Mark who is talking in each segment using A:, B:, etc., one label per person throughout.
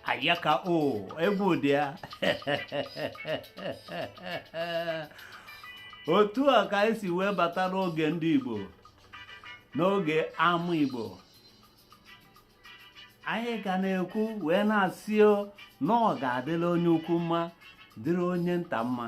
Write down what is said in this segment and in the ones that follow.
A: Ayaka o, egwu dị ya. otu a ka anyị si wee bata n'oge ndị Igbo n'oge ama Igbo anyị ga na-ekwu wee na-asị na ọ ga-adịrị onye ukwu mma dịrị onye nta mma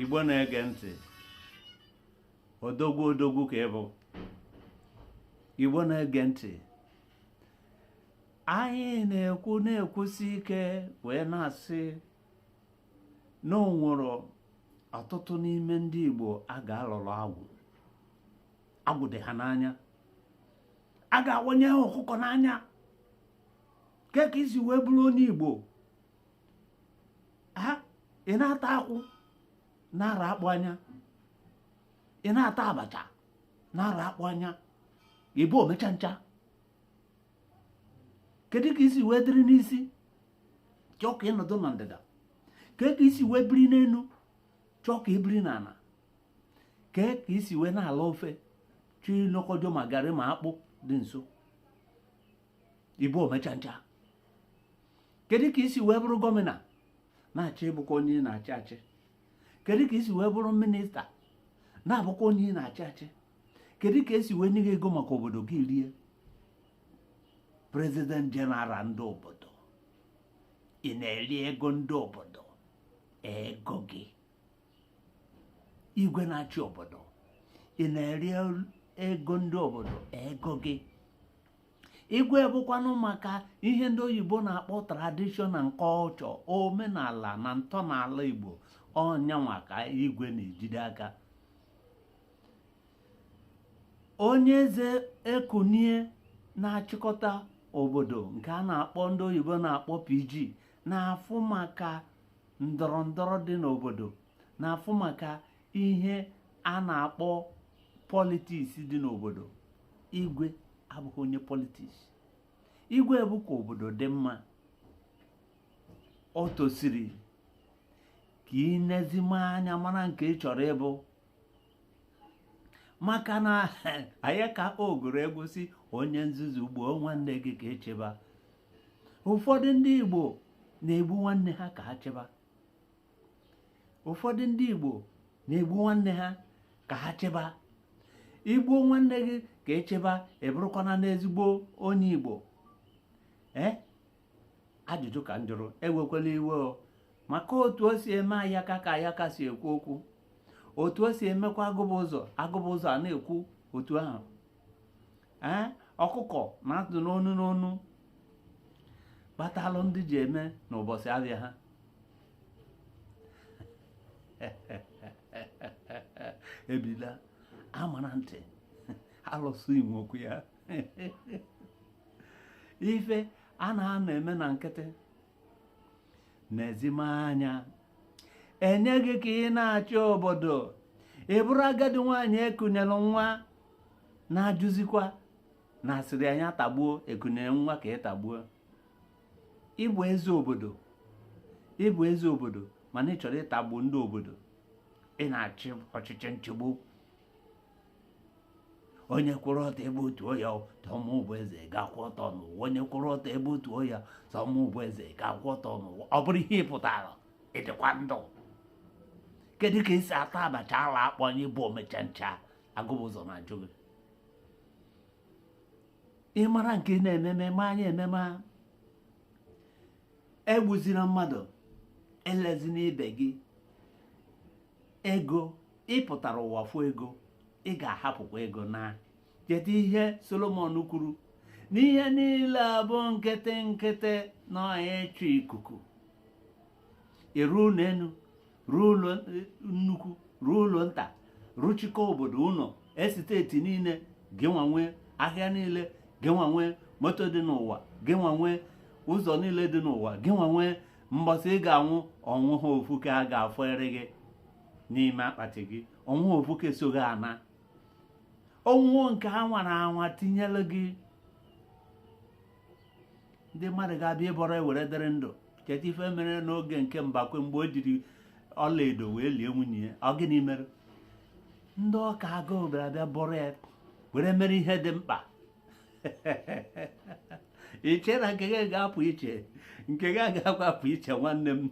A: Igbo na-ege ntị odogwu odogwu ka ị bụ Igbo na-ege ntị anyị na-ekwu na-ekwusi ike wee na-asị na o nwere ọtụtụ n'ime ndị Igbo a ga-alụrụ agwụ agwụ dị ha n'anya a ga-awanye ha ọkụkọ n'anya kee ka i si wee bụrụ onye Igbo ị na-ata akwụ na-ara akpụ anya ị na-ata abacha na-ara akpụ anya ị bụ omecha ncha kedu ka i si wee dịrị n'isi chọọ ka ị nọdụ na ndịda kee ka i si wee biri n'elu chọọ ka i biri n'ala kee ka i si wee na-ala ofe chọọ inokọcha ma garị ma akpụ dị nso ị bụ omechancha kedu ka i si wee bụrụ gọmịna na-achọ ịbụkwa onye na-achị achị kedu ka i si wee bụrụ minista na-abụkwa onye ị na-achị achị kedu ka e si wee nye gị ego maka obodo gị rie president general ndị obodo ị na-eri ego ndị obodo ego gị igwe na-achị obodo ị na-eri ego ndị obodo ego gị igwe bụkwanụ maka ihe ndị oyibo na-akpọ tradition and culture omenala na ntọala igbo ọ nyanwa ka igwe na-ejide aka onye eze ekunie na-achịkọta obodo nke a na-akpọ ndị oyibo na-akpọ PG na-afụ maka ndọrọ ndọrọ dị n'obodo na-afụ maka ihe a na-akpọ politiks dị n'obodo igwe abụghị onye politiks igwe bụ ka obodo dị mma o tosiri ka i nezime anya mara nke ị chọrọ ịbụ maka na ayaka ọ gụrụ egwu sị onye nzuzu gbuo nwanne gị ka ị chịba ụfọdụ ndị Igbo na-egbu nwanne ha ka ha chịba ụfọdụ ndị Igbo na-egbu nwanne ha ka ha chịba i gbuo nwanne gị ka ị chịba ị bụrụkwana n'ezigbo onye Igbo ee eh? ajụjụ ka m jụrụ ewekwala iwe o maka otu o si eme ayaka ka ayaka si ekwu okwu otu o si emekwa agụba ụzọ agụba ụzọ a na-ekwu otu ahụ ee ọkụkọ na-atụ n'onu n'onu kpatalụ ndị ji eme n'ụbọchị abịa ha ebila amara ntị alụsị inwe okwu ya ife a na-ana eme na nkịtị na-ezime anya e nye gị ka ị na-achị obodo ị bụrụ agadi nwaanyị ekunyelụ nwa na-ajụzikwa na a sịrị ya tagbuo ekunyere nwa ka ị tagbuo ị bụ eze obodo ị bụ eze obodo mana ị chọrọ ịtagbu ndị obodo ị na-achị ọchịchị nchịgbu onye kwụrụ ọtọ e betuo ya sọ mụ bụ eze ga-akwụ ọtọ n'ụwa onye kwụrụ ọtọ e betuo ya sọ mụ bụ eze ga-akwụ ọtọ n'ụwa ọ bụrụ ihe ị pụtara ị dịkwa ndụ kedu ka e si ata abacha ala akpọ onye bụ omecha ncha agụba ụzọ na-ajụ gị ị mara nke na-ememe ma anyị ememe egbuzila mmadụ elezina ibe gị ego ị pụtara ụwa fụ ego ị ga-ahapụkwa ego naa cheta ihe solomon kwuru na ihe niile bụ nkịtị nkịtị na ịchụ ikuku ị rụọ ụlọ elu rụọ ụlọ nnukwu rụọ ụlọ nta rụchikọ obodo ụlọ estate niile gị nwa nwe ahịa niile gị nwa nwe moto dị n'ụwa gị nwa nwe ụzọ niile dị n'ụwa gị nwa nwe mbọsị ị ga-anwụ o nweha ofu ke a ga-afọnyere gị n'ime akpati gị o nweha ofu ke so gị ana o nwee nke a nwara anwa tinyere gị ndị mmadụ ga-abịa ịbọrọ ya were dịrị ndụ cheta ife mere n'oge nke mbakwe mgbe o jiri ọlaedo wee lie nwunye ya ọ gịnị mere ndị ọka agụụ bịara bịa bọrọ ya were mere ihe dị mkpa i che na nke gị ga-apụ iche nke gị agaghị apụ iche nwanne m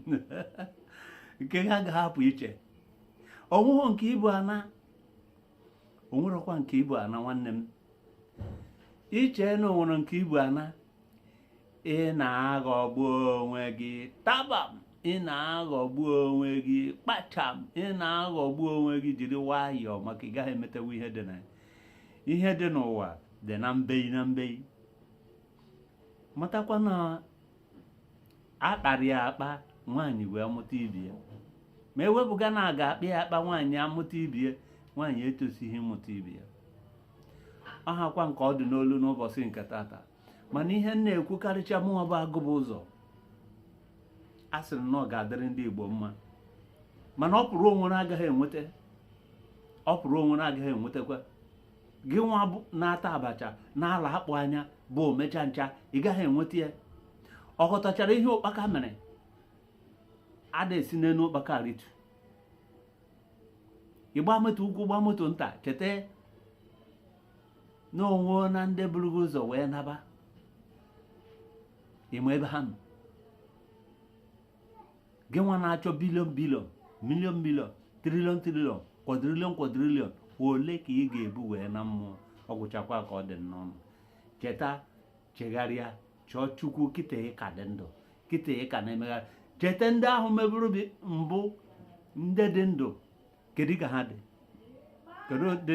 A: nke gị agaghị apụ iche o nwehu nke i bu ana o nwerọkwa nke i bu ana nwanne m i che na o nwere nke i bu ana ị na-aghọgbu onwe gị tabam ị na-aghọgbu onwe gị kpacham ị na-aghọgbu onwe gị jiri nwayọọ maka ị gaghị emetewu ihe dị na ya ihe dị n'ụwa dị na mbei na mbei matakwa na a kpara ya akpa nwaanyị wee mụta ibi ya ma e wepụga na a ga-akpa ya akpa nwaanyị amụta ibi ya nwaanyị etosighị ịmụta ibi ya ọ hakwa nke ọ dị n'olu n'ụbọchị nke tata mana ihe m na-ekwukarịcha mụnwa bụ agụba ụzọ a sịrị na ọ ga-adịrị ndị Igbo mma mana ọ pụrụ onwere agaghị enweta ọ pụrụ onwere agaghị enwetakwa gị nwa na-ata abacha na-ala akpụ anya bụ omecha ncha ị gaghị enweta ya ọ ghọtachara ihe ụkpaka mere ada esi n'elu ụkpaka aritu ị gba moto ukwu gba moto nta cheta na o nwena ndị buru gị ụzọ wee naba ị ma ebe ha nọ gị nwa na-achọ bilion bilion milion milion trilion trilion kwadrilion kwadrilion ole ka ị ga-ebu wee naa mmụọ ọ gwụchakwa ka ọ dị n'ọnụ cheta chegharịa chọọ chukwu kịta ị ka dị ndụ kịta ị ka na-emegharị cheta ndị ahụ meburu mbụ ndị dị ndụ kedu ka ha dị kedu dị